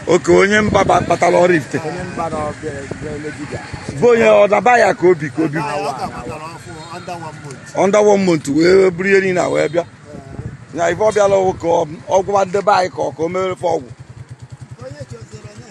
oke onye mba batara Oraifite bụ onye ọdaba ya ka obi ka obi under one month wee buru ihe niile wee bịa na ife ọ bịala ọgwụ ka ọ gwọwa ndị be anyị ka ọ ka o mere ofe ọgwụ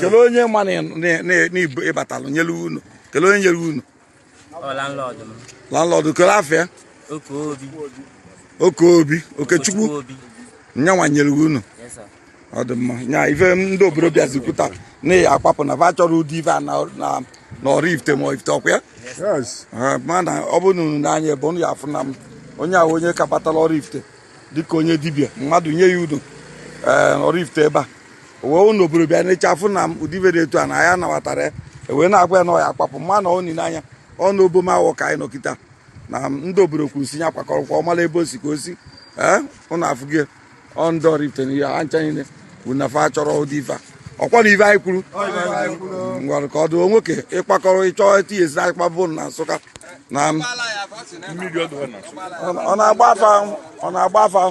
kelee onye ma na ị batalụ nyere ụnọ kelee onye nyere ụnọ landlord kelee afa ya Okeobi Okechukwu ya nwa nyere ụnọ ọ dị mma nya ife ndị obodo bịazi kwuta na ya kwapụ na va achọrọ ụdị ife a na Oraifite ma Ifite ọkwa ya mana ọ bụrụ na unu nee anya ebe unu ya afụ na m onye ahụ onye ka batara Oraifite dịka onye dibịa mmadụ nye ya ụnọ ee Oraifite ebe a o wee ụnụ obodo bịa n'eche afụ na m ụdị ife dị etu a na ya nabatara ya e wee na-agwa ya na ọ ya-akwapụ mana unu nee anya ọnụ obom awọ ka anyị nọ kịta na ndị obodo kwuru si ya kwakọrọkwa ọmala ebe o si ka o si ee unu afụgie ọ ndị Oraifite na ihe ha ncha niile na fa achọrọ ụdị ife a ọkwa na ife anyị kwuru ngwara ka ọ dị nwoke ịkpakọrọ ịchọ etinyesi anyị kpabụ na nsụka na ọ na-agba afa ọ na-agba afa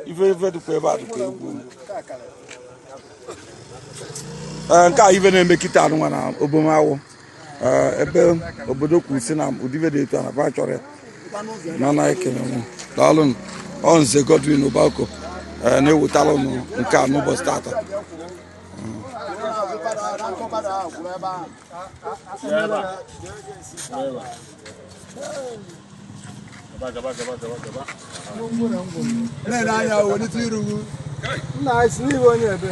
ife ife dịkwa ebe a dịkwa egwu nke a ife na-eme kịta anụnwa na obom awọ ebe obodo kwuru si na ụdị ife dị etu a na va achọrọ ya mana ekene m daalụ ọ nze Godwin Obako na-ewetara unu nke a n'ụbọchị tata na-ele anya welite iru nna anyị si n'ihu onye ebe